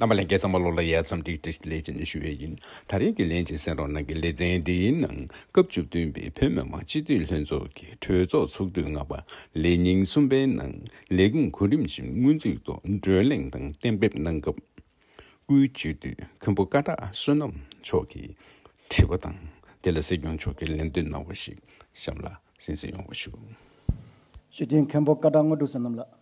རྣམ་པ་ལན་བརྒྱད་ཙམ་པ་ལོ་ལ་ཡར་འཚམས་འདྲི་བཀྲིས་བདེ་ལེགས་ཅན་ཞུ་ཡས་ཡིན་ད་རེས་ཀྱི་ལན་ཅིག་སེང་རོག་ནང་གི་ལེ་ཚན་འདིའི་ནང་སྐབས་བཅུ་བདུན་པའི་བོད་མི་མང་སྤྱི་འཐུས་ལྷན་ཚོགས་ཀྱི་གྲོས་ཚོགས་ཚོགས་དུས་ལྔ་པ་ལས་ཉིན་གསུམ་པའི་ནང་ལས་ཁུངས་གོ་རིམ་བཞིན་སྔོན་རྩིས་ཐོག་བགྲོས་གླེང་དང་གཏན་འབེབས་གནང་སྐབས། དབུས་སྤྱི་འཐུས་མཁན་པོ་ཀ་བྲག་བསོད་ནམས་མཆོག་གིས་དྲི་བ་དང་དེ་ལ་སྲིད་སྐྱོང་མཆོག་གིས་ལན་འདོན་གནང་བ་ཞིག་གཤམ་ལ་གསན་གསན་ཡོང་བ་ཞུ། སྤྱི་འཐུས་མཁན་པོ་ཀ་བྲག་དངོས་གྲུབ་བསོད་ནམས་ལགས།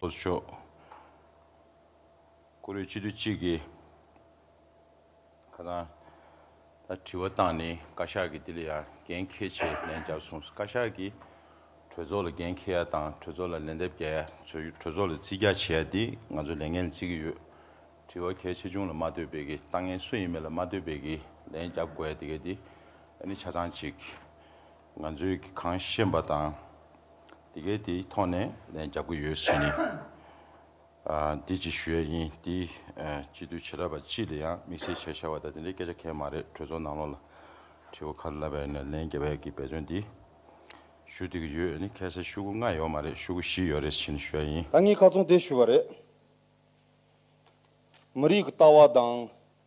ལྷོ་ཕྱོགས། ཀོ་རོས་སྤྱི་འཐུས་གཅིག་གིས་ཁ་སང་ད་དྲི་བ་བཏང་ནས་བཀའ་ཤག་གིས་དེ་ལ་ཡང་འགན་འཁེལ་ཆེད་ལན་བརྒྱབ་སོང་ཟེར་བཀའ་ཤག་གིས་གྲོས་ཚོགས་ལ་འགན་འཁེལ་ཡ་དང་གྲོས་ཚོགས་ལ་ལན་འདེབས་རྒྱག་ཡ་ཚོས་གྲོས་ཚོགས་ལ་རྩིས་རྒྱག་བྱེད་ཡ་དེ་ང་ཚོ་ལས་འགན་ལ་རྩི་གི་ཡོད། དྲི་བ་གལ་ཆེ་ཆུང་ལ་མ་ལྟོས་པའི་གི་ལྟ་ངན་སུ་ཡིན་མིན་ལ་མ་ལྟོས་པའི་གི་ལན་བརྒྱབ་དགོས་ཡ་དེ་གས་དེ་ནི་ཆ་ཚང་གཅིག། ང་ཚོས་གི་གང་ཤེས་པ་དང། དེ་གའི་དེ་ཐོག་ནས་ལན་རྒྱབ་གི་ཡོད་བྱས་ནས། འདི་ཅིག་ཞུ་ཡས་ཡིན་འདི་སྤྱི་འཐུས་བྱེ་ར་པ་སྤྱི་ལ་ཡང་དམིགས་བསལ་བྱས་བྱ་བ་དང་དེ་འདྲའི་སྐད་ཆ་གས་མ་རེད་གྲོས་ཚོགས་ནང་ལོག་ལ་དྲི་བ་ཁར་ལབ་པས་ནས་ལན་རྒྱབ་ཡས་གི་འབད་བརྩོན་འདི་ཞུ་འདི་གི་ཡོད་ཡས་ནི་ཁས་བསད་ཤུ་གུ་ལྔ་ཡོད་མ་རེད་ཤུ་གུ་བཞི་ཡོད་རེད་བྱས་ནས་ཞུ་ཡས་ཡིན། ད་ངས་ཁ་ཚོང་དེ་ཞུ་བ་རེད། མི་རིགས་ཀི་ལྟ་བ་དང།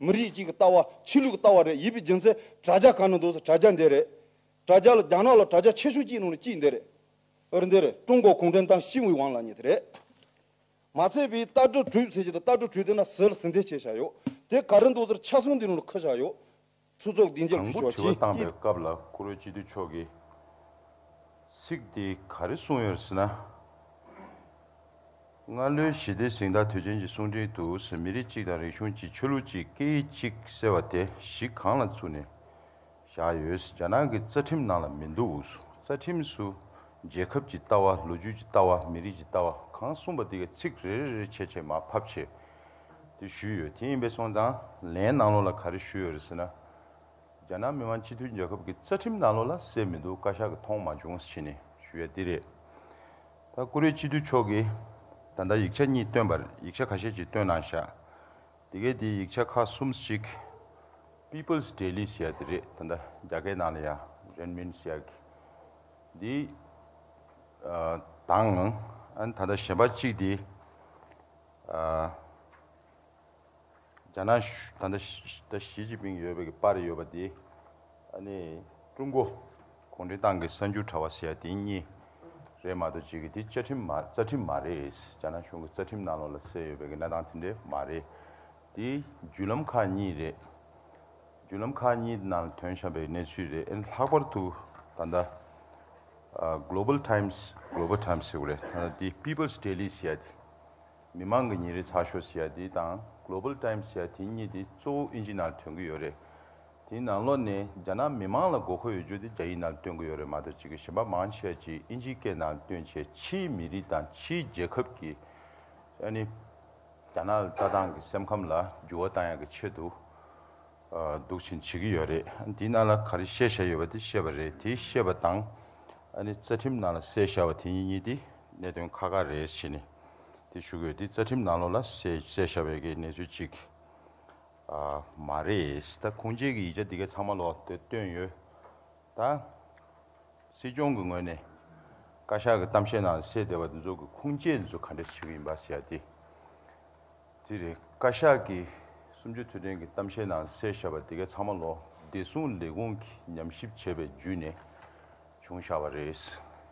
མི་རིགས་གཅིག་གི་ལྟ་བ་ཆོས་ལུགས་ལྟ་བ་རེད་ཡིད་པའི་རྒྱུ་མཚན་དྲ་རྒྱ་གང་ན་འདུག་ཟེར་དྲ་རྒྱ་འདི་རེད། དྲ་རྒྱ་ལ་རྒྱ་ནག་ལ་དྲ་རྒྱ་ཆེ་ཤོས་གཅིག་ནང་ནས་གཅིག་འདི་རེད། འོད་འདི་རེད་ཀྲུང་གོ་གུང་ཁྲན་ཏང་ཞི་བའི་དབང་ལག་གཉིས་དེ་རེད། མ་ཚད་པའི་ལྟ་གྲུབ་གྲོས་བྱེད་ཀྱི་དང་ལྟ་གྲུབ་གྲོས་དེ་ན་ཟིལ་ཟིན་ཐལ་ཆེ་བཞག་ཡོད། དེ་ག་རེ་འདུག་ཟེར་ཕྱག་ཟུང་འདི་ནང་ལ་ཁུར་བཞག་ཡོད། ཚུར་ཚོགས་སྡིངས་ཆར་དང་ཕུལ་པོ་ཆོག་དྲི་བ་ཅིས་བཏང་པའི་ཀྱིས། སྐབས་ལ་བཀུར་འོས་སྤྱི་འཐུས་མཆོག་གིས། ཚིག་དེ་ག་རེ་གསུངས་ཡོད་ཟེར་ན། སྔར་ལོའི་ཞི་བདེ་གཟེངས་རྟགས་དུས་ཆེན་གྱི་གསུང་འཕྲིན་དུ་མི་རིགས་གཅིག་དང་རིག་གཞུང་གཅིག་ཆོས་ལུགས་གཅིག་སྐད་ཡིག་གཅིག་ཟེར་བ་དེ་གཞི་གང་ལ་བཙུགས་ནས་བཞག་ཡོད་རྒྱ་ནག་གི་རྩ་ཁྲིམས་ནང་ལ་མི་འདུག་རྩ་ཁྲིམས་སུ་རྒྱལ་ཁབ་ཀྱི་ལྟ་བ་ལོ་རྒྱུས་ཀྱི་ལྟ་བ་མི་རིགས་ཀྱི་ལྟ་བ་གང་གསུངས་པ་དེ་གའི་ཚིག་རེ་རེ་རེ་ཆད་ཆད་མ་ཕབ་ཆེད་དུ་ཞུས་ཡོད་དེ་ཡིན་པས་སོང་དང་ལན་ནང་ལོགས་ལ་ག་རེ་ཞུས་ཡོད་རེད་ཟེར་ན་རྒྱ་ནག་མི་དམངས་སྤྱི་མཐུན་རྒྱལ་ཁབ་ཀྱི་རྩ་ཁྲིམས་ནང་ལོགས་ལ་གསལ་མི་འདུག་བཀའ་ཤག་གི་མཐོང་མ་བྱུང་ཟེར་ནས་ཞུས་ཡ་འདི་རེད། ད་ཀུ་རེ་སྤྱི་འཐུས་མཆོག་གིས་ད་ལྟ་ཡིག་ཆ་གཉིས་བཏོན་པར་ཡིག་ཆ་ཁ་ཤས་ཅིག་བཏོན་གནང་བཞག་དེ་གའི་དེའི་ཡིག་ཆ་ཁག་གསུམ་གཅིག People's Daily ཞེས་དེ་རེད་ད་ལྟ་རྒྱ་སྐད་ནང་ལ་ཡང་རན་མིན་ཞེས་ཀྱི་འདི་དང་ཨ་ན་ད་ལྟ་གཞན་པ་གཅིག་དེ་རྒྱ་ནག་གཞུང་ད་ལྟ་ཞི་ཅིན་ཕིང་ཡོད་པའི་པར་ཡོད་པ་དེ་ནི་ཀྲུང་གོ་གུང་ཁྲན་ཏང་གི་གསར་འགྱུར་དྲ་བ་ཟེར་ཡ་དེ་གཉིས་རེད་མ་གཏོགས་གཅིག་གི་དེ་བཅའ་ཁྲིམས་རྩ་ཁྲིམས་མ་རེད། རྒྱ་ནག་གཞུང་གི་རྩ་ཁྲིམས་ནང་ལོགས་ལ་གསལ་ཡོད་པའི་གནས་སྟངས་དེ་འདྲ་མ་རེད། དེ་བརྒྱུད་ལམ་ཁག་གཉིས་རེད། བརྒྱུད་ལམ་ཁག་གཉིས་ནང་ལ་དོན་བྱ་བའི་གནས་ཚུལ་རེད་ཨེ་ལྷག་པར་དུ་ད་ལྟ Global Times Global Times ཟེར་བ་རེད་ད་ལྟ་དེ People's Daily ཟེར་ཡ་དེ། མི་མང་གི་ཉིན་རེའི་ཚགས་ཤོག་ཞེས་པ་འདི་དང Global Times ཞེས་པ་དེ་གཉིས་དེ་གཙོ་བོ་དབྱིན་ཇི་ནང་ཐོན་གྱི་ཡོད་རེད། དེའི་ནང་ལོགས་ནས་རྒྱ་ནག་མི་མང་ལ་དགོས་མཁོ་ཡོད་རྒྱུ་དེ་རྒྱ་ཡིག་ནང་བཏོན་གྱི་ཡོད་རེད་མ་གཏོགས་ཕྱི་གི་གཞན་པ་མང་ཆེ་བ་ཅིག་དབྱིན་ཇིའི་སྐད་ནང་བཏོན་ཆེད་ཕྱིའི་མི་རིགས་དང་ཕྱིའི་རྒྱལ་ཁབ་ཀྱི་ཨ་ནི་རྒྱ་ནག་ལ་ལྟ་སྟངས་ཀྱི་སེམས་ཁམས་ལ་འགྱུར་བ་བཏང་ཡག་གི་ཆེད་དུ་འདུག་བཞིན་བྱེད་ཀྱི་ཡོད་རེད། དེའི་ནང་ལ་ག་རེ་བཤད་བཞག་ཡོད་པ་དེ་བཤད་པ་རེད་དེ་བཤད་པ་དང། རྩ་ཁྲིམས་ནང་ལ་གསལ་བཞག་པ་དེ་གཉིས་གཉིས་དེ་གནད་དོན་ཁག་ཁག་རེད་བྱས་ནས་དེ་ཞུ་གི་ཡོད་དེ་རྩ་ཁྲིམས་ནང་ལོགས་ལ་གསལ་བཞག་པའི་གནས་ཚུལ་གཅིག་མ་རེད། ད་ཁུངས་སྐྱེལ་གྱི་ཡིག་ཆ་འདི་ག་ཚང་མ་ལོགས་དེ་བཏོན་ཡོད། ད་སྲིད་སྐྱོང་གི་ངོས་ནས་བཀའ་ཤག་གི་གཏམ་བཤད་ནང་ལ་གསལ་བསྡད་པ་དེ་ཚོ་གི་ཁུངས་སྐྱེལ་འདི་ཚོ་ག་འདྲས་བྱེད་ཀྱི་ཡིན་པ་ཟེར་ཡག་དེ། དེ་རེད་བཀའ་ཤག་གིས་གསུམ་བཅུ་དུས་དྲན་གྱི་གཏམ་བཤད་ནང་གསལ་བཞག་པ་དེ་གས་ཚང་མ་ལོ་བདེ་སྲུང་ལས་ཁུངས་ཀྱི་ཉམས་ཞིབ་བྱས་པའི་བརྒྱུད་ནས་བྱུང་བཞག་པ་རེད།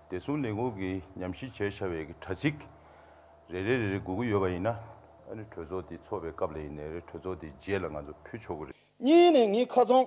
བདེ་སྲུང་ལས་ཁུངས་ཀྱི་ཉམས་ཞིབ་བྱས་བཞག་པའི་དྲ་ཚིགས་རེ་རེ་རེ་རེ་སྒུག་གི་ཡོད་པ་ཡིན་ན་ཨ་རི་གྲོས་ཚོགས་དེ་ཚོགས་པའི་སྐབས་ལ་ཡིན་ནའི་རེ་གྲོས་ཚོགས་དེ་རྗེས་ལ་ང་ཚོ་ཕུལ་ཆོག་གི་རེད། གཉིས་ནས་ངའི་ཁ་ཚོན།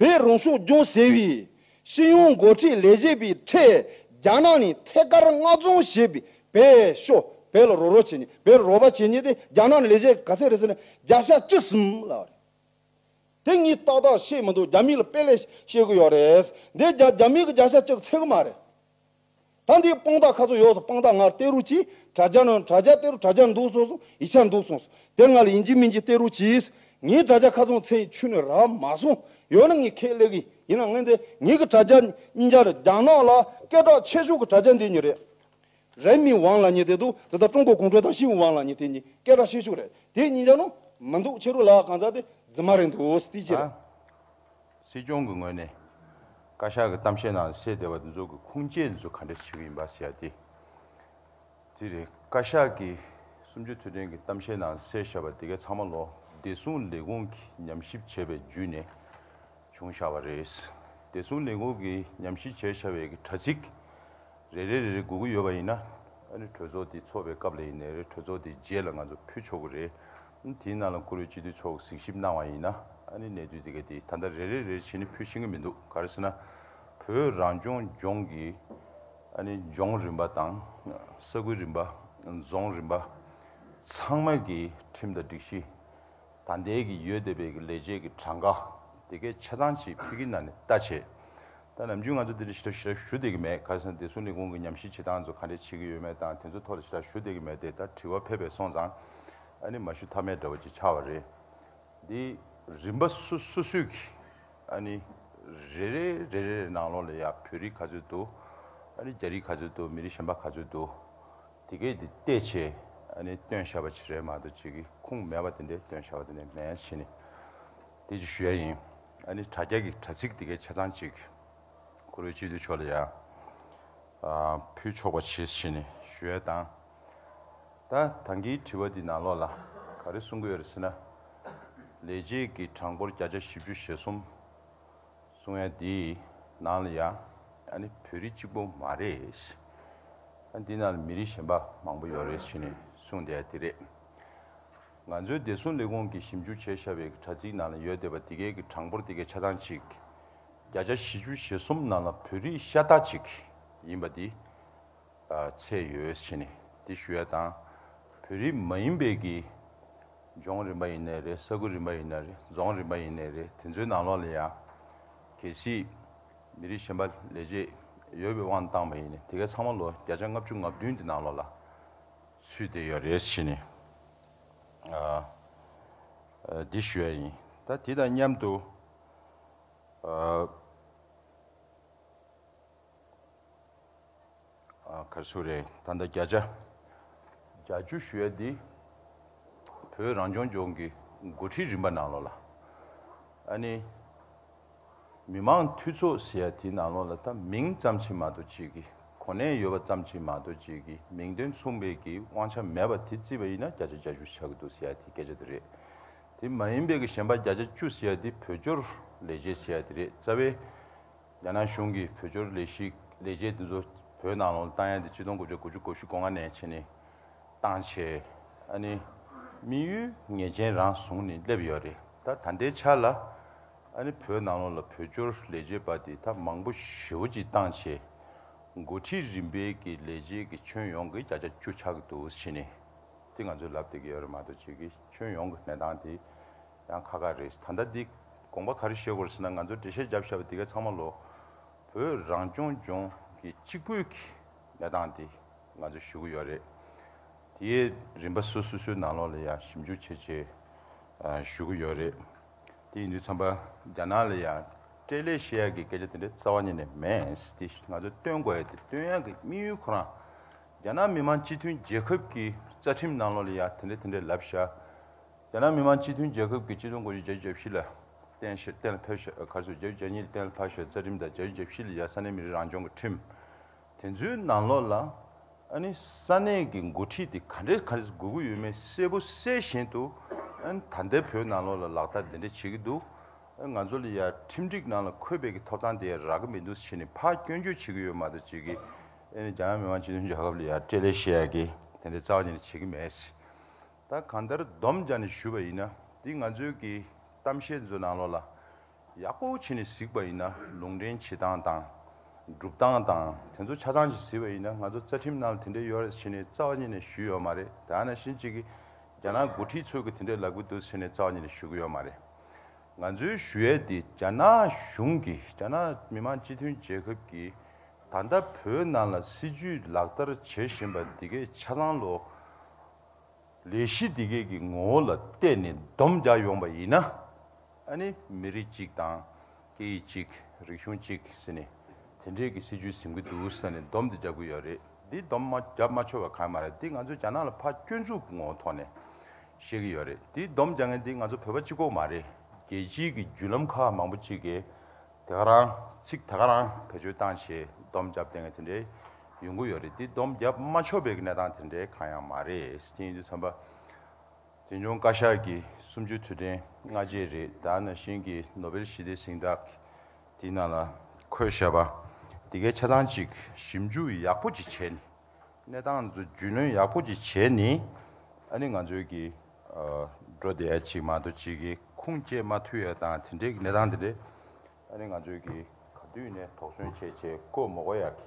བོད་རང་སྐྱོང་ལྗོངས་ཟེར་བའི་ཤེས་ཡོན་འགོ་ཁྲིད་ལས་བྱེད་པའི་ཁྲལ་རྒྱ་ནག་ནས་ཐད་ཀར་མངགས་བཙོང་བྱས་པའི་བེད་ཤོ་བེད་ལ་རོགས་རོགས་བྱས་ནས་བེད་རོགས་པ་བྱས་ཉེས་དེ་རྒྱ་ནག་ནས་ལས་བྱེད་ག་ཚད་རེད་ཟེར་ན་བརྒྱ་ཆ་བཅུ་གསུམ་ལ་རེད། དེ་གཉིས་ཏག་ཏག་ཤེས་མི་འདུག་རྒྱ་མི་ལ་དཔེ་ལས་ཤེས་དགོས་ཡོད་རེད། འདི་རྒྱ་མི་གི་བརྒྱ་ཆ་བཅུ་ཚད་གི་མ་རེད། ད་འདིའི་དཔང་རྟགས་ཁ་ཚོ་ཡོགས་སོ་དཔང་རྟགས་ངར་སྟེ་རུ་ཅི། དྲ་རྒྱ་ནོ་དྲ་རྒྱ་སྟེ་རུ་དྲ་རྒྱར་འདུག་སོང་སོང་ཡི་ཆར་འདུག་སོང་སོང་དེར་ང་ལ་ཡིན་གྱི་མིན་གྱི་སྟེ་རུ་ཅིས། ངའི་དྲ་རྒྱ་ཁ་ཚོང་ཚེ་ཡིན་ཆུ་ནས་ར་མ་སོང་ཡོད་ན་ངས་ཁས་ལེགས་གི་ཡིན་ན་ངས་འདི་ངེད་ཀྱི་དྲ་རྒྱ་ཉིན་རྒྱ་རྒྱ་ནག་ལ་སྐད་གྲགས་ཆེ་ཤོས་ཀྱི་དྲ་རྒྱ་འདི་ཉིད་རེད། རེན་མིན་ཝང་ལ་ཉིད་དེ་འདུག་དེ་ལྟར་ཀྲུང་གོ་གུང་ཁྲན་ཏང་ཤིན་ཝང་ལ་ཉིད་དེ་ཉིད་སྐད་གྲགས་ཆེ་ཤོས་རེད་དེ་ཉིན་རྒྱ་ནོ་མི་འདུག་ཁྱེད་རུ་ལགས་གང་ཚ་དེ་རྫི་མ་རེད་འདུག་སྟེ་ཅི་རེད། སྲིད་སྐྱོང་གི་ངོས་ནས། བཀའ་ཤག་གི་གཏམ་བཤད་ནང་གསལ་བདེ་བ་འདི་ཚོ་གི་ཁུངས་སྐྱེལ་འདི་ཚོ་ག་འདྲ་བྱེད་ཀྱི་ཡིན་པ་ཟེར་ཡ་དེ། དེ་རེད། བཀའ་ཤག་གི་སུམ་བཅུ་དུས་དྲན་གི་གཏམ་བཤད་ནང་གསལ་བཤད་པ་དེ་གའི་ཚང་མ་ལོ་བདེ་སྲུང་ལས་ཁུངས་ཀྱི་ཉམས་ཞིབ་བྱས་པའི་བརྒྱུད་ནས་བྱུང་བཞག་པ་རེད། བདེ་སྲུང་ལས་ཁུངས་ཀྱི་ཉམས་ཞིབ་བྱས་བཞག་པའི་གི་དྲ་ཚིགས་རེ་རེ་རེ་རེ་སྒུག་གི་ཡོད་པ་ཡིན་ན། ཨ་ནི་གྲོས་ཚོགས་དེ་ཚོགས་པའི་སྐབས་ལ་ཡིན་ནའི་རེ་གྲོས་ཚོགས་དེ་རྗེས་ལ་ང་ཚོ་ཕུལ་ཆོག་གི་རེད། དེའི་ནང་ལ་བཀུར་འོས་སྤྱི་འཐུས་ཚོགས་གཟིགས་ཞིབ་གནང་བ་ཡིན་ན་ནི་གནད་དུ་འཛིན་མཁན་དེ་ད་ལྟ་རེ་རེ་རེར་བྱེད་ནི་ཕུལ་ཤེས་ཀྱི་མི་འདུག་ག་རེ་ཟེར་ན། བོད་རང་སྐྱོང་ལྗོངས་ཀྱི་ལྗོངས་རིམ་པ་དང། ས་ཁུལ་རིམ་པ། རྫོང་རིམ་པ། ཚང་མ་གི་ཁྲིམས་དང་སྒྲིག་གཞི། ད་ལྟའི་གི་ཡོད་བསྡད་པའི་གི་ལས་བྱེད་ཀྱི་གྲངས་ཀ་དེ་གས་ཆ་ཚང་ཆེད་ཕུལ་གྱི་ན་ནི་ལྟ་བྱེད་ད་ནམ་རྒྱུན་ང་ཚོ་དེ་འདྲའི་ཞིབ་ཕྲ་ཞུ་བསྡད་ཀྱི་མེད་ག་སེང་བདེ་སྲུང་ལས་ཁུངས་ཀྱི་ཉམས་ཞིབ་བྱེད་སྟངས་ཚོ་ག་འདྲས་བྱེད་ཀྱི་ཡོད་མེད་དང་དེ་ཚོའི་ཐོག་ལ་ཞིབ་ཕྲ་ཞུ་བསྡད་ཀྱི་མེད་དེ་ད་དྲི་བ་ཕལ་པས་སོང་ཙང་ཨ་ནི་མ་ཞུ་ཐབས་མེད་འདྲ་བོ་ཅིག་ཆགས་བ་རེད། འདི་རིམ་པ་སུ་སུ་སུས་ཀྱིས་ཨ་ནི་རེ་རེ་རེ་རེ་རེ་ནང་ལོགས་ལ་ཡ་བོད་རིགས་ག་ཚོད་འདུག་ཨ་ནི་རྒྱ་རིགས་ག་ཚོད་འདུག་མི་རིགས་གཞན་པ་ག་ཚོད་འདུག་དེ་སྐད་དེ་བལྟས་ཆེད་ཨ་ནི་བཏོན་ཤར་བ་ཅིག་རེད་མ་གཏོགས་ཅིག་གི་ཁུངས་མེད་པ་དེ་འདྲས་བཏོན་ཤར་བ་དེ་འདྲས་མེད་ཕྱིན་ནི། དེ་ཅི་ཞུ་ཡ་ཡིན། ཨ་ནི་དྲ་རྒྱ་གི་དྲ་ཚིགས་དེ་གའི་བྱས་ཙང་ཅིག། ཁོ་རོའི་སྤྱི་འཐུས་མཆོག་ལ་ཡ། ཕུལ་ཆོག་པ་བྱེད་ཞེས་ནས་ཞུ་ཡ་དང། ད་དང་གིའི་དྲི་བ་འདི་ནང་ལོགས་ལ་ག་རེ་གསུང་གི་ཡོད་རེད་ཟེར་ན། ལས་བྱེད་ཀྱི་གྲངས་འབོར་བརྒྱ་ཆ་བཞི་བཅུ་ཞེ་གསུམ་གསུང་ཡ་འདིའི་ནང་ལ་ཡ། ཨ་ནི་བོད་རིགས་གཅིག་པོ་མ་རེད། ཨ་ནི་འདི་ནང་ལ་མི་རིགས་གཞན་པ་མང་པོ་ཡོད་རེད་ཞེས་ནས་གསུང་བསྡད་ཡ་དེ་རེད། ང་ཚོའི་བདེ་སྲུང་ལས་ཁུངས་ཀྱིས་ཞིབ་འཇུག་བྱས་བཞག་པའི་དྲ་ཚིགས་ནང་ལ་ཡོད་བསྡད་པ་དེ་གའི་གི་གྲངས་འབོར་དེ་གའི་ཆ་ཚང་གཅིག། བརྒྱ་ཆ་བཞི་ཅུ་ཞེ་གསུམ་ནང་ལ་བོད་རིགས་ཤ་སྟག་ཅིག་ཡིན་པ་དེ་ཚད་ཡོད་ཕྱིན་ནས་དེ་ཞུ་ཡ་དང། བོད་རིགས་མ་ཡིན་པའི་གི་ལྗོངས་རིམ་པ་ཡིན་ནའི་རེད་ས་ཁུལ་རིམ་པ་ཡིན་ནའི་རེད་རྫོང་རིམ་པ་ཡིན་ནའི་རེད་དེ་ཚོའི་ནང་ལོགས་ལ་ཡང་གལ་སྲིད་མི་རིགས་གཞན་པ་ལས་ཆད་ཡོད་པའི་དབང་དུ་བཏང་པ་ཡིན་ནའི་དེ་གའི་ཚང་མ་ལོ་བརྒྱ་ཆ་ལྔ་བཅུ་ལྔ་བདུན་དེ་ནང་ལོགས་ལ། ཚུལ་དེ་ཡང་རེ་ཞིག་ནས་འདི་ཞུ་བ་ཡིན། ད་དེ་དང་མཉམ་དུ། གར་སོ་རེད་ད་ལྟ་བརྒྱ་ཆ་གྱ་བཅུ་ཞུ་བ་འདི། བོད་རང་སྐྱོང་ལྗོངས་ཀྱི་འགོ་ཁྲིད་རིམ་པ་ནང་ལོགས་ལ། ཨ་ནི། མི་དམངས་འཐུས་ཚོགས་ཟེར་ཡ་དེའི་ནང་ལོགས་ལ་ད་མིང་ཙམ་ཆིག་མ་དོ་གཅིག་གི་གོ་གནས་ཡོད་པ་ཙམ་ཆིག་མ་དོ་གཅིག་གི་མིང་དོན་མཚུངས་པའི་གི་དབང་ཆ་མེད་པ་དེ་རྩིས་པ་ཡིན་ན་བརྒྱ་ཆ་བརྒྱ་ཞུ་བྱ་གི་འདུག་ཟེར་ཡ་དེ་སྐད་ཆ་དེ་རེད། དེ་མ་ཡིན་པའི་གི་གཞན་པ་བརྒྱ་ཆ་བཅུ་ཟེར་ཡ་དེ་བོད་སྐྱོར་ལས་བྱེད་ཟེར་ཡ་དེ་རེད་རྩ་བའི། རྒྱ་ནག་གཞུང་གི་བོད་སྐྱོར་ལས་གཞི་ལས་བྱེད་དེ་ཚོ་བོད་ནང་ལོགས་ལ་བཏང་ཡ་དེ་སྤྱི་སྟོང་དགུ་བརྒྱ་དགུ་བཅུ་གོ་བཞི་གོ་ལྔ་ནས་ཕྱིན་ནས་བཏང་བྱས་ཨ་ནི་དམིགས་ཡུལ་ངེས་ཅན་རང་བཟུང་ནས་སླེབས་ཡོད་རེད། ད་ད་ལྟའི་ཆར་ལ་ཨ་ནི་བོད་ནང་ལོགས་ལ་བོད་སྐྱོར་ལས་བྱེད་པ་དེ་དག་མང་པོ་ཞི་བ་གྱིས་བཏང་ཆེ། འགོ་ཁྲིད་རིམ་པའི་གི་ལས་བྱེད་གི་ཁྱོན་ཡོངས་གི་བརྒྱ་ཆ་བཅུ་ཆགས་འདུག་ཕྱི་ནས་དེ་ང་ཚོའི་ལབ་དེ་གི་ཡོད་རེད་མ་གཏོགས་བྱེད་གི་ཁྱོན་ཡོངས་གི་གནས་སྟངས་དེ་ཡང་ཁ་ཁ་རེད། ད་ལྟ་འདི་དགོངས་པ་ག་རེ་བཞེས་དགོས་ཟེར་ན་ང་ཚོ་འགྲེལ་བཤད་བརྒྱབ་བཞག་པ་དེ་ག་ཚང་མ་ལོགས་བོད་རང་སྐྱོང་ལྗོངས་གི་གཅིག་པོའི་གི་གནས་སྟངས་དེ་ང་ཚོས་ཞུ་གི་ཡོད་རེད། དེའི་རིམ་པ་སོ་སོ་སོའི་ནང་ལོགས་ལ་ཡང་ཞིབ་འཇུག་བྱེད་ཆེད་ཞུ་གི་ཡོད་རེད། དེ་ཡིན་དུས་ཚང་པ་རྒྱ་ནག་ལ་ཡང་སྤྲེལ་ལད་བཤད་ཡག་གི་སྐད་ཆ་དེ་འདྲའི་རྩ་བ་ཉིད་ནས་མེད་དེ་ང་ཚོས་བཏོན་དགོས་ཡོད་དེ་བཏོན་ཡག་གི་དམིགས་ཡུལ་ཁོ་རང་རྒྱ་ནག་མི་དམངས་སྤྱི་མཐུན་རྒྱལ་ཁབ་ཀྱི་རྩ་ཁྲིམས་ནང་ལོགས་ལ་ཡང་དེ་འདྲ་དེ་འདྲའི་ལབ་བཞག་རྒྱ་ནག་མི་དམངས་སྤྱི་མཐུན་རྒྱལ་ཁབ་ཀྱི་སྤྱི་དོན་དགོངས་གཞི་རྒྱ་བཞི་ལ་གཏན་ཞེས་གཏན་ལ་ཕབ་བཞག་གར་སོ་རྒྱ་བཞི་རྒྱ་གཉིས་ལ་གཏན་ལ་ཕབ་བཞག་རྩ་ཁྲིམས་དང་རྒྱ་བཞི་རྒྱ་བཞི་ལ་ཡང་ས་གནས་མི་རིགས་རང་སྐྱོང་གི་ཁྲིམས། དེ་ཚོའི་ནང་ལོགས་ལ་ཨ་ནི་ས་གནས་ཀྱི་འགོ་ཁྲིད་དེ་ག་འདྲས་ག་འདྲས་དགོས་ཀྱི་ཡོད་མེད་གསལ་པོ་གསལ་བཞིན་དུ་ཨ་ནི་ད་ལྟའི་བོད་ནང་ལོགས་ལ་ལག་བསྟར་དེ་འདྲས་བྱེད་ཀྱི་འདུག་ཨ་ང་ཚོ་ལ་ཡ་ཁྲིམས་སྒྲིག་ནང་ལ་འཁོད་པའི་གི་ཐོབ་ཐང་དེ་ཡ་རག་གི་མི་འདུག་ཕྱིན་ནས་ཕར་སྐྱོན་བརྗོད་བྱེད་ཀྱི་ཡོད་མ་གཏོགས་བྱེད་ཀྱི་ཨ་ནི་རྒྱ་ནག་མི་དམངས་སྤྱི་མཐུན་རྒྱལ་ཁབ་ལ་ཡ་སྤྲེལ་ལད་བཤད་ཡ་གི་དེ་འདྲས་རྩ་བ་ཉིད་ནས་བྱེད་ཀྱི་མེད་སྲིད་ད་གང་ལྟར་བསྡོམས་བྱ་ནས་ཞུས་པ་ཡིན་ན་དེ་ང་ཚོའི་གི་གཏམ་བཤད་ཚོའི་ནང་ལོགས་ལ་ཡག་པོ་བྱས་ནས་གཟིགས་པ་ཡིན་ན་ལུང་འདྲེན་བྱེད་སྟངས་དང། སྒྲུབ་སྟངས་དང་དེ་ཚོ་ཆ་ཚང་ཞིག་གཟིགས་པ་ཡིན་ན་ང་ཚོ་རྩ་ཁྲིམས་ནང་ལ་དེ་འདྲའི་ཡོད་རེད་ཟེར་ནས་རྩ་བ་ཉིད་ནས་ཞུས་ཡོད་མ་རེད་དེ་ཨ་ན་ཤིན་གཅིག་གིས་རྒྱ་ནག་འགོ་ཁྲིད་ཚོས་གི་དེ་འདྲའི་ལག་གི་འདུག་ཟེར་ནས་རྩ་བ་ཉིད་ནས་ཞུ་གི་ཡོད་མ་རེད། ང་ཚོའི་ཞུ་ཡས་དེ་རྒྱ་ནག་གཞུང་གིས་རྒྱ་ནག་མི་མང་སྤྱི་མཐུན་རྒྱལ་ཁབ་ཀྱིས་ད་ལྟ་བོད་ནང་ལ་སྲིད་ཇུས་ལག་བསྟར་བྱེད་བཞིན་པ་འདི་གས་ཆ་ཚང་ལོ་ལས་གཞི་འདི་གས་ཀྱི་ངོ་བོ་ལ་བལྟས་ནས་བསྡོམས་རྒྱག་ཡོང་པ་ཡིན་ན་ཨ་ནི་མི་རིགས་གཅིག་དང། སྐད་ཡིག་གཅིག། རིག་གཞུང་གཅིག་ཟེར་ནས་དེ་འདྲའི་གི་སྲིད་ཇུས་ཟིན་གི་འདུག་ས་ནས་སྡོམ་དེ་བརྒྱབ་གི་ཡོད་རེད། འདི་སྡོམ་མ་བརྒྱབ་མ་ཆོད་པ་གང་ཡང་མ་རེད་འདི་ང་ཚོས་རྒྱ་ནག་ལ་ཕ་སྐྱོན་འཛུགས་གི་ངོ་ཐོག་ནས་བཤད་གི་ཡོད་རེད་འདི་སྡོམ་རྒྱག་མཁན་འདི་ང་ཚོ་བོད་པ་གཅིག་གོ་མ་རེད། རྒྱལ་སྤྱིའི་གི་བརྒྱུད་ལམ་ཁག་མང་པོ་གཅིག་གི་དེ་ག་རང་ཚིག་དེ་ག་རང་བེད་སྤྱོད་བཏང་ཞེས་སྡོམ་བརྒྱབ་བསྡད་མཁན་དེ་འདྲའི་ཡོང་གི་ཡོད་རེད་འདི་སྡོམ་བརྒྱབ་མ་ཆོད་པའི་གི་གནས་སྟངས་དེ་འདྲའི་གང་ཡང་མ་རེད་དེ་ཡིན་དུས་བསམ་པ། འཛིན་སྐྱོང་བཀའ་ཤག་གི་གསུམ་བཅུའི་དུས་དྲན་སྔ་རྗེས་རེད་ད་ནང་བཞིན་གྱི་ནོ་བེལ་ཞི་བདེའི་གཟེངས་རྟགས་དེའི་ནང་ལ་འཁོད་བཞག་པ་དེ་གའི་ཆ་ཚང་ཅིག་ཞིབ་འཇུག་ཡག་པོ་ཅིག་བྱས་ནས་གནས་སྟངས་འདི་རྒྱུས་ལོན་ཡག་པོ་ཅིག་བྱས་ནས་ཨ་ནི་ང་ཚོའི་གི་འགྲོ་བདེ་ཡ་ཅིག་མ་ཏོ་ཅིག་གི་ཁུངས་སྐྱེལ་མ་ཐུ་ཡ་དང་དེ་འདྲའི་གི་གནས་སྟངས་དེ་འདྲས་ཨ་ནི་ང་ཚོའི་གི་ག་དུས་ནས་དོགས་ཟོན་བྱས་བྱས་ཀོ་མོ་ཀོ་ཡག་གི་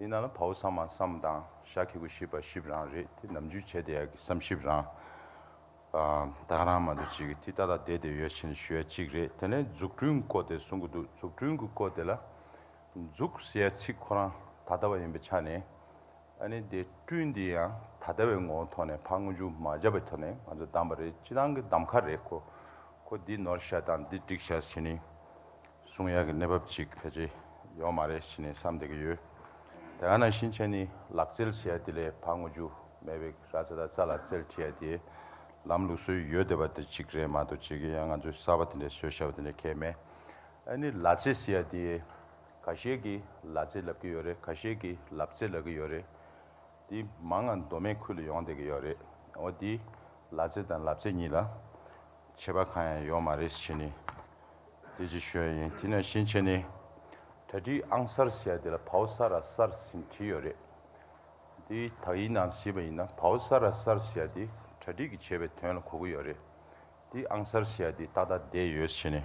དེས་ན་ལ་བྷའུ་བསམ་མ་བསམ་དང་ཤ་ཁེ་གུ་ཤི་བ་ཤི་བ་རང་རེད་དེ་ནམ་རྒྱུན་བྱས་དེ་ཡག་གི་བསམ་ཤི་བ་རང། བདག་རང་མ་འདུག་ཅིག་གི་དེ་ད་ལྟ་བསྡད་དེ་ཡོད་ཕྱིན་ལ་ཞུ་ཡ་གཅིག་རེད་དེ་ནས་འཛུགས་སྐྲུན་སྐོར་དེ་གསུང་གི་འདུག་འཛུགས་སྐྲུན་གི་སྐོར་དེ་ལ། འཛུགས་ཟེར་ཡ་ཚིག་ཁོ་རང་ད་ལྟ་བ་ཡིན་པའི་ཆ་ནས། ཨ་ནི་དེ་སྐྲུན་དེ་ཡང་ད་ལྟ་བའི་ངོ་བོ་ཐོག་ནས་ཕ་དངུལ་ཅུང་མ་བརྒྱབ་པའི་ཐོག་ནས་ང་ཚོ་བདམས་པ་རེད་སྤྱི་བཏང་གི་བདམས་ཁ་རེད་ཁོ། ཁོ་འདི་ནོར་བྱ་དང་འདི་སྒྲིག་བྱ་བྱས་ནས། གསུང་དབྱངས་ཀྱི་གནས་བབ་ཅིག་ཕལ་ཆེར་ཡོད་མ་རེད་ཞེས་ནས་བསམ་བསྡད་ཀྱི་ཡོད། དེ་ག་ནང་བཞིན་བྱས་ནས་ལག་རྩལ་ཟེར་ཡ་དེ་ལས་བག་ངོ་རྒྱུ་མེད་པའི་ར་རྩེ་དང་རྩ་ལ་རྩལ་བྲིས་ཡ་དེའི་ལམ་ལུགས་སྲོལ་ཡོད་བསྡད་པ་དེ་ཅིག་རེད་མ་གཏོགས་ཅིག་གི་ཡང་ང་ཚོའི་གསར་བ་དེ་འདྲའི་སྲོལ་བྱ་བ་དེ་འདྲ་ཁྱད་མེད། ཨ་ནི་ལ་རྩེ་ཟེར་ཡ་དེའི་ག་ཤེད་ཀྱི་ལ་རྩེ་ལབ་ཀྱི་ཡོད་རེད་ག་ཤེད་ཀྱི་ལབ་རྩེ་ལབ་ཀྱི་ཡོད་རེད། དེ་མང་ང་མདོ་སྨད་ཁུལ་ལ་ཡོང་བསྡད་ཀྱི་ཡོད་རེད། འོ་དེའི་ལ་རྩེ་དང་ལབ་རྩེ་གཉིས་ལ། བྱེད་པ་གང་ཡང་ཡོད་མ་རེད་བྱས་ནས་དེ་ཅིག་ཤོས་ཡིན་དེ་ན་གཞན་བྱས་ནས་གྲ་སྒྲིག་ཨང་གསར་ཞེས་དེ་ལ་བའོ་ས་ར་སར་ཟིན་བྲིས་ཡོད་རེད་དེ་དག་ཡིན་ནམ་ཞེས་པ་ཡིན་ན་བའོ་ས་ར་སར་ཞེས་དེ་གྲ་སྒྲིག་གི་བྱས་པའི་དོན་ལ་གོ་གི་ཡོད་རེད་དེ་ཨང་གསར་ཞེས་དེ་ཏག་ཏག་བསྡད་ཡོད་བྱས་ནས།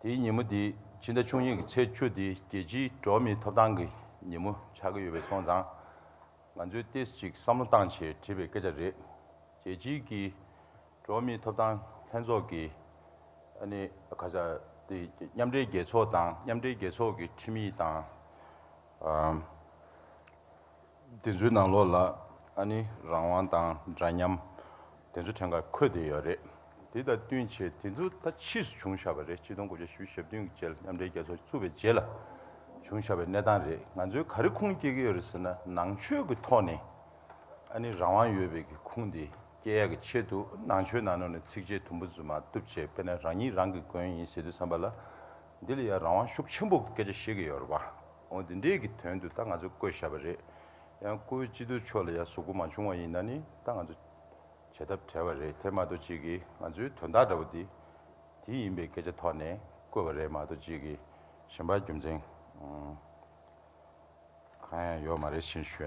དེའི་ཉིན་མོ་འདི་ཕྱི་ཟླ་ཆུང་གཉིས་ཀྱི་ཚེས་བཅུ་འདི་རྒྱལ་སྤྱིའི་འགྲོ་མིའི་ཐོབ་ཐང་གི་ཉིན་མོ་ཆགས་ཀྱི་ཡོད་པས་སོང་ཙང། ང་ཚོས་ལྟས་གཅིག་བསམ་བློ་བཏང་ཆེད་བྲིས་པའི་སྐད་ཆ་རེད། རྒྱལ་སྤྱིའི་གི་འགྲོ་མིའི་ཐོབ་ཐང་ལྷན་ཚོགས་ཀྱི་ཨ་ནི་ཁ་ས་དེ་མཉམ་འབྲེལ་རྒྱལ་ཚོགས་དང་མཉམ་འབྲེལ་རྒྱལ་ཚོགས་ཀྱི་ཁྲིམས་ཡིག་དང། དེ་ཚོའི་ནང་ལོགས་ལ་ཨ་ནི་རང་དབང་དང་འདྲ་མཉམ་དེ་ཚོ་ཕྲན་གར་འཁོད་བསྡད་ཡོད་རེད། དེ་དང་བསྟུན་ཆེད་དེ་ཚོ་ད་ཕྱིས་སུ་བྱུང་བཞག་པ་རེད་སྤྱི་སྟོང་དགུ་བརྒྱ་ཞེ་བཞི་ཞབས་བདུན་གྱི་རྗེས་ལ་མཉམ་འབྲེལ་རྒྱལ་ཚོགས་བཙུགས་པའི་རྗེས་ལ་བྱུང་བཞག་པའི་གནས་སྟངས་རེད་ང་ཚོའི་ག་རེ་ཁུངས་སྐྱེལ་གྱི་ཡོད་རེད་ཟེར་ན་ནང་ཆོས་ཀྱི་ཐོག་ནས་ཨ་ནི་རང་དབང་ཡོད་པའི་གི་ཁུངས་དེ་སྐྱེལ་ཡག་གི་ཆེད་དུ་ནང་ཆོས་ནང་ནོར་ནས་ཚིགས་བཅད་དུམ་བུ་རྫུན་མ་བཏུབ་བྱས་དཔེར་ན་རང་ཉིད་རང་གི་མགོན་ཡིན་ཟེར་དུས་བསམ་པ་ལ་འདི་ལ་ཡང་རང་དབང་ཤུགས་ཆེན་པོ་གི་སྐད་ཆ་བཤད་ཀྱི་ཡོད་རེད་བ། འོ་འདི་འདྲས་ཀྱི་དོན་དུ་ད་ང་ཚོ་བསྐོས་བཞག་པ་རེད། ཡང་བསྐོ་བའི་སྤྱི་འཐུས་ཕྱོགས་ལ་ཡང་ཟུག་པོ་མ་བྱུང་བ་ཡིན་ན་ནི་ད་ང་ཚོ་བྱ་ཐབས་བྲལ་བ་རེད་དེ་མ་གཏོགས་གཅིག་གིས་ང་ཚོའི་དོན་དག་འདྲ་བོ་འདི་དེ་ཡིན་པའི་སྐད་ཆ་ཐོག་ནས་བསྐོས་པ་རེད་མ་གཏོགས་གཅིག་གིས་གཞན་པར་རྒྱུ་མཚན་གང་ཡང་ཡོད་མ་རེད་ཤེས་ཞུ།